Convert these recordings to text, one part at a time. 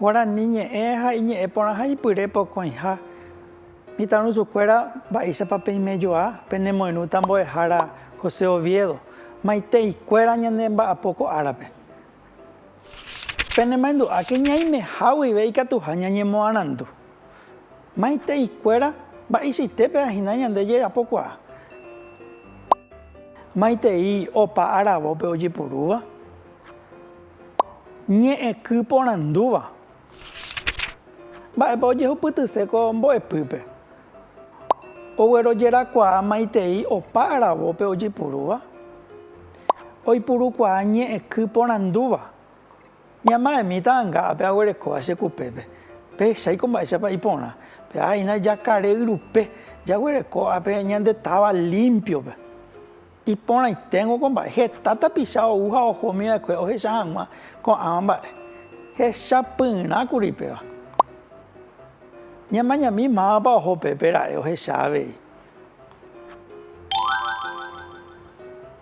Guarani ñe'ẽ ha iñe'ẽ porãha ipyre pokõiha. Mitãrusukuéra mba'éichapa peimejoa penemoirũta mbo'ehára José Oviedo, maitei kuéra ñane mba'apo ko árape. Penemaendu'áke ñaimeha guive ikatuha ñañemoarandu. Maiteikuéra mba'eichaitépe ahina ñande jejapokuaa? Maitei opa aravópe ojepurúva? Ñe'ẽky porandúva? Mba'épa ojehupytyse ko mbo'epýpe? Oguerojerakuaa maitei opa aravópe ojepurúva, oipurukuaa ñe'ẽky porandúva. Ñama'ẽmi ta'anga ápe aguerekóva che kupépe. Pehechái ko mba'éichapa iporã. Pe'aha'ina jakare yrupe, jaguereko ápe ñande táva límpiope. Iporãiténgo ko mba'e, heta tapicha ou ha oho umi va'ekue ohecha hag̃ua ko'ãva mba'e. Hechapyrã kuri péva. Ñamañami mávapa oho pe pe ra'e ohecha avei.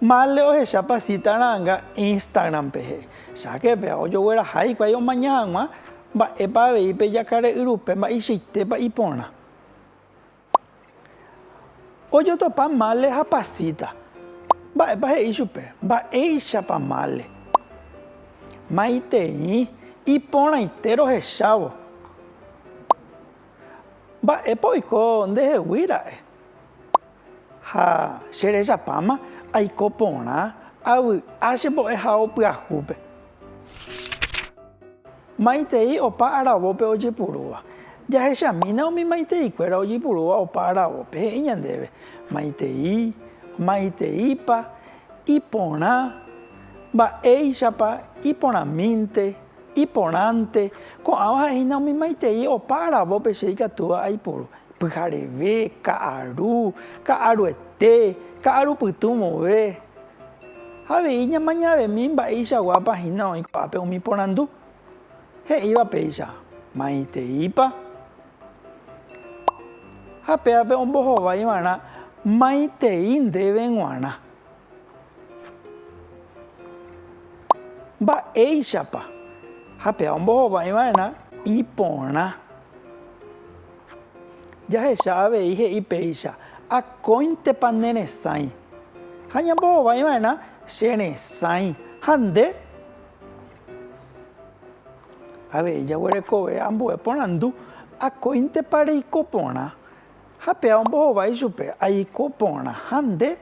Mále ohecha pasita ra'ãnga Instagram-pe he'i, Cháke péva ojogueraha hikuái omaña hag̃ua mba'épa avei pe jakare'yrupe mba'eichaitépa iporã. Ojotopa mále ha pasíta. Mba'épa he'i chupe? Mba'éichapa mále? Maitei, iporãite rohechávo. Mba'épa oiko ndehegui ra'e? Ha che rechapáma aiko porã, avy'a che mbo'ehao pyahúpe. Maitei opa aravópe ojepurúva. Jahechamína umi maiteikuéra ojeipurúva opa aravópe, he'i ñandéve, maitei, maiteípa, iporã, mba'éichapa, iporãmínte, iporãnte, ko'ãva ha'ehína umi maitei opa aravópe che ikatúva aipuru, pyhareve, ka'aru, ka'aruete, ka'arupytũ vove. Ha avei ñamañavemi mba'eichaguápa hína oĩ ko'ápe umi porandu. He'íva péicha, maiteípa? Ha péape ombohovái va'erã maitei ndéve g̃uarã. Mba'éichapa? Ha péa ombohovái va'erã iporã. Jahecha avei he'i péicha, Akóintepa ne resãi, ha ñambohovái va'erã che resãi, ha nde avei jaguerekove ambue porandu, Akóintepa reiko porã? Ha péa ombohovái ichupe, Aiko porã, ha nde?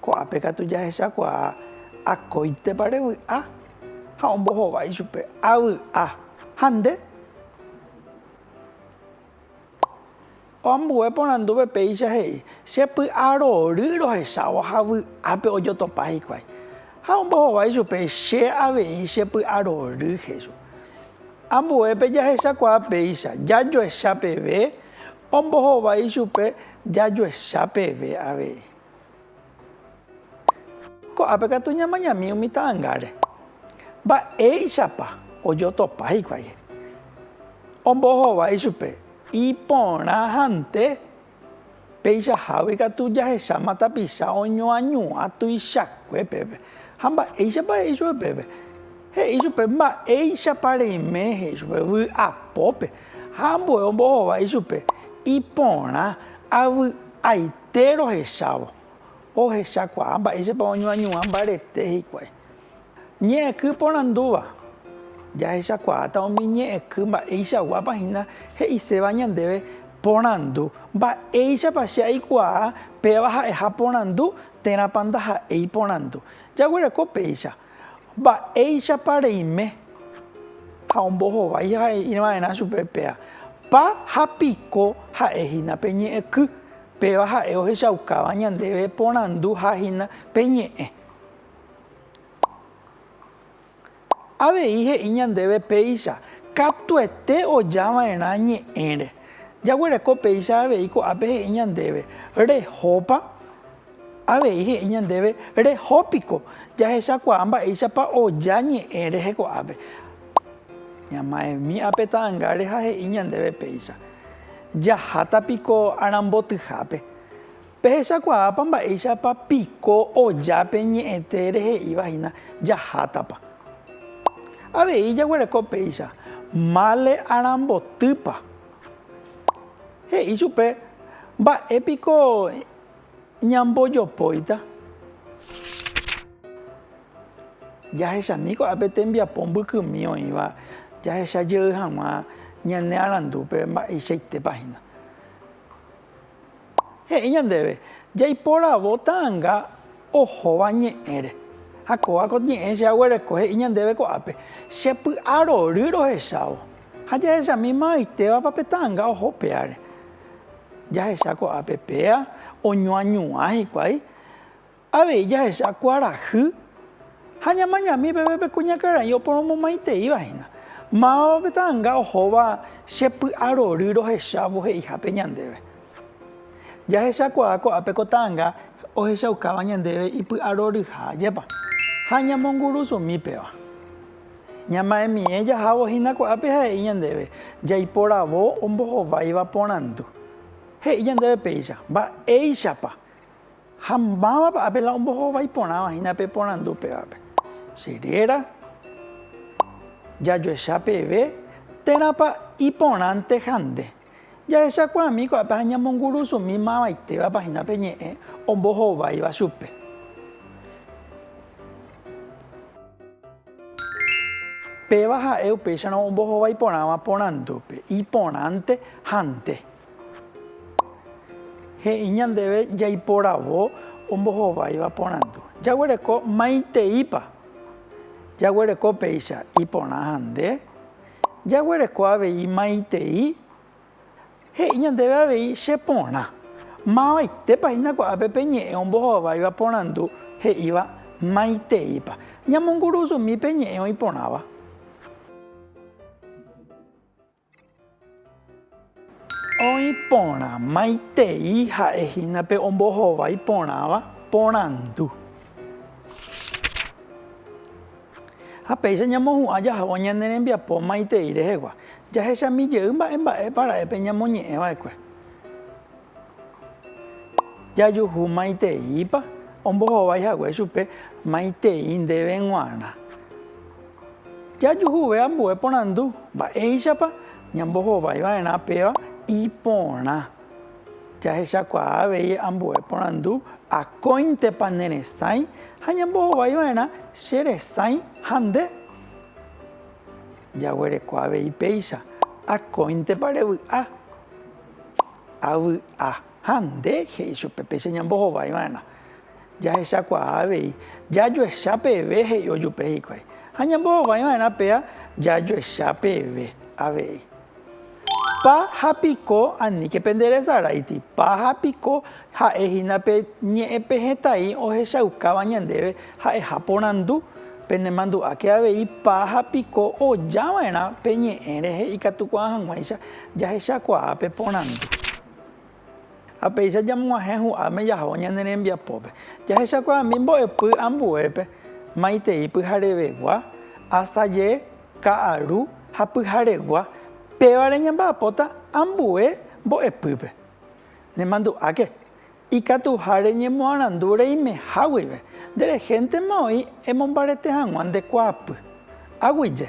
Ko'ápe katu jahechakuaa akóintepa revy'a. Ha ombohova ichupe avy'a ha nde. Ambue porandúpe péicha he'i, Che py'a rory rohechávo ha vy'ápe ojotopa hikuái. Ha ombohova ichupe, Che avei che py'a rory, he'i chupe. Ambuépe jahechakuaa péicha, jajoecha peve, ombohova ichupe, jajoecha peve avei. Ko'ápe katu ñamañami umi ta'angáre. Mba'éichapa ojotopa hikuái? Ombohova ichupe, iporãhante peichahágui katu jahecháma tapicha oñoañuã tuichakue peve. Ha mba'éichapa he'i chupe peve? He'i chupe mba'éichapa reime he'i chupe vy'apópe ha ambue ombohova ichupe iporã avy'aite. Tee rohechávo, ohechakuaa mba'éichapa oñoañuã mbarete hikuái. Ñe'ẽky porandúva, jahechakuaáta umi ñe'ẽky mba'eichaguápa hína he'iséva ñandéve porandu, mba'éichapa che aikuaa péva ha'eha porandu térãpa ndaha'éi porandu. Jaguereko péicha. Mba'éichapa reime ha ombohovái ha he'i va'erã chupe péa, Pa ha piko ha'e hína pe ñe'ẽky, péva ha'e ohechaukáva ñandéve porandu ha hína pe ñe'ẽ. Avei he'i ñandéve péicha, Katuete oja va'erã ñe'ẽre. Jaguereko péicha avei ko'ápe he'i ñandéve, Rehópa? Avei he'i ñandéve, Reho piko, jahechakuaa mba'éichapa oja ñe'ẽ rehe ko'ápe. Ñamaemi ape ta'angáre ha he'i ñandéve péicha, Jaháta piko arambotyhápe. Pehechakuaápa mba'éichapa piko oja pe ñe'ẽte rehe'íva hína jahátapa. Avei jaguereko péicha, Mále arambotýpa. He'i chupe, Mba'e piko Ñambojopóita jahechami ko'ápe tembiapo mbykymi oĩva jahecha jey hag̃ua ñane arandúpe mba'eichaitépa hína. He'i ñandéve, jaiporavo ta'anga ohóva ñe'ẽre. Ha kóva ko ñe'ẽ che aguereko he'i ñandéve ko'ápe, che py'a rory rohechávo. Ha jahechamíma oitévapa pe ta'anga oho péare. Jahecha ko'ápe péa oñoañuã hikuái, avei jahecha kuarahy ha ñamañami peve pe kuñakarai oporomomaiteíva hína. Mávapa pe ta'anga ohóva che py'arory rohechávo he'ihápe ñandéve? Jahechakuaa ko'ápe ko ta'anga ohechaukáva ñandéve ipy'aroryha ajépa, ha ñamongurusumi péva. Ñama'ẽmiẽ jahávo hína ko'ápe ha he'i ñandéve jaiporavo ombohováiva porandu. He'i ñandéve péicha, Mba'éichapa ha mávapa ápe la ombohovái porãva hína pe porandu upévape. Che réra, jajoecha peve térãpa iporãnte ha nde. Jahechakuaami ko'ápe ha ñamongurusumi mavaitévapa hína pe ñe'ẽ ombohováiva chupe. Péva ha'e upéicharõ ombohovái porãva porandúpe, iporãnte ha nde. He'i ñandéve jaiporavo ombohováiva porandu. Jaguereko maiteípa? Jaguereko péicha iporã ha nde. Jaguereko avei maitei he'i ñandéve avei che porã. Mavaitépa hína ko'ápe pe ñe'ẽ ombohováiva porandu he'íva maiteípa. Ñamongurusumi pe ñe'ẽ oĩporãva. Oĩ porã maitei ha'e hína pe ombohovái porãva porandu. Ha péicha ñamohu'ã jahávo ñane rembiapo maitei rehegua, jahechami jey mba'e mba'épa ra'épe ñamoñe'ẽ va'ekue. Jajuhu maiteípa ombohovái hague chupe maitei ndéve g̃uarã. Jajuhuve ambue porandu, Mba'éichapa? Ñambohovái va'erã péva iporã jahechakuaa avei ambue porandu, Akóintepa ne resãi? ha Ñambohovái va'erã che resãi ha nde? Jaguereko avei péicha, Akóintepa revy'a? Avy'a. Ha nde? he'i chupe péicha Ñambohovái va'erã. jahechakuaa avei, jajoecha peve, he'i ojupe hikuái, ha ñambohovái va'erã péa jajoecha peve avei. Pa ha piko aníke penderesaráiti, pa ha piko ha'e hína pe ñe'ẽ pe hetãi ohechaukáva ñandéve ha'eha porandu, penemandu'áke avei pa ha piko oja va'erã pe ñe'ẽ rehe ikatukuaa hag̃uáicha jahechakuaa pe porandu. Ha péicha jamoguahẽ hu'áme jaho ñane rembiapópe, jahechakuaami mbo'epy ambuépe, maitei pyharevegua, asaje, ka'aru ha pyharegua, pévare ñamba'apóta ambue mbo'epýpe. Nemandu'áke, ikatuha reñemoarandu reimeha guive, nde rehéntema oĩ emombarete hag̃ua nde kuaapy. Aguyje.